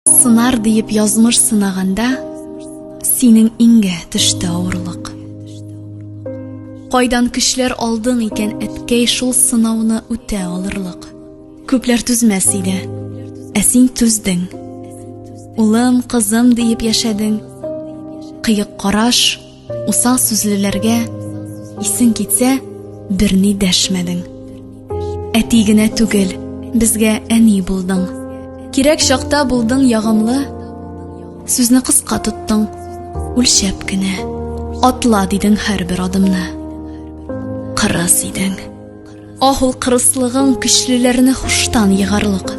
Сынар диеп язмыш сынаганда, синең иңгә төште авырлык. Кайдан көчләр алдың икән әткәй шул сынауны үтә алырлык. Күпләр түзмәс иде, ә син түздең. Улым, кызым диеп яшәдең. Кыек караш, Усал сүзлеләргә исең китсә, берни дәшмәдең. Әти генә түгел, безгә әни булдың. Кирәк чакта булдың ягымлы, сүзне кыска тоттың, үлчәп кенә. Атла дидең һәрбер адымны. Кырыс идең. Ах, ул кырыслыгың көчлеләрне хуштан егарлык.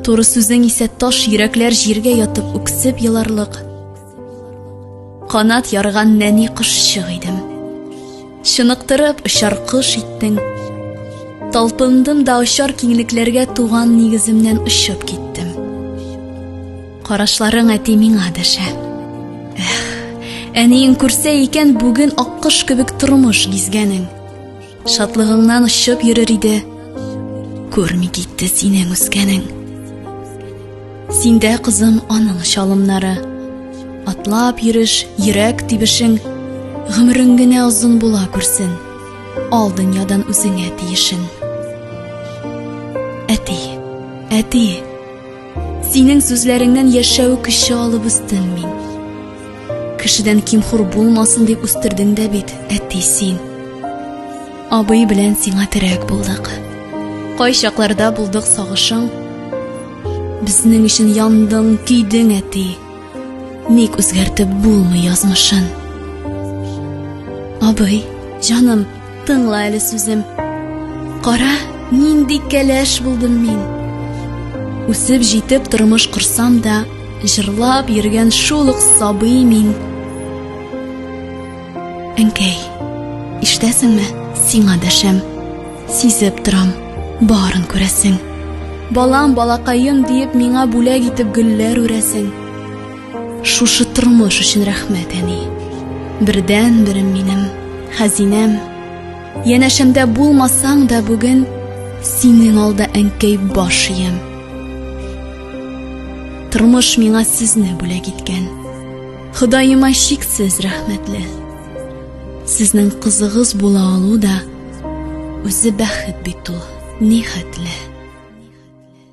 Туры сүзең исә таш йөрәкләр җиргә ятып үксеп еларлык. Канат ярган нәни кошчык идем. Чыныктырып очар кош иттең. Талпындым да очар киңлекләргә туган нигеземнән очып киттем. Карашларың әти миңа дәшә. Эх, әниең күрсә икән бүген аккош кебек тормыш гизгәнең. Шатлыгыңнан очып йөрер иде. Күрми китте синең үскәнең. Синдә кызым аның чалымнары. Атлап йөреш, йөрәк тибешең, гомерең генә озын була күрсен. Ал дөньядан үзеңә тиешен. Әти, әти, Синең сүзләреңнән яшәү көче алып үстем мин. Кешедән кимхур булмасын дип үстердең дә бит, әти син. Абый белән сиңа терәк булдык. Кай чакларда булдык сагышың? Безнең өчен яндың, көйдең, әти. Ник үзгәртеп булмый язмышын? Абый, җаным, Тыңла әле сүзем. Кара, нинди кәләш булдым мин. Үсеп җитеп тормыш корсам да, җырлап йөргән шул ук сабый мин. Әнкәй, ишетәсеңме? Сиңа дәшәм. Сизеп торам, барын күрәсең. Балам, балакаем диеп миңа бүләк итеп гөлләр үрәсең. Шушы тормыш өчен рәхмәт, әни. Бердән берем минем, хәзинәм. Янәшәмдә булмасаң да бүген синең алда әнкәй баш иям. Тормыш миңа сезне бүләк иткән. Ходаема чиксез рәхмәтле. Сезнең кызыгыз була алу да үзе бәхет бит ул, нихәтле.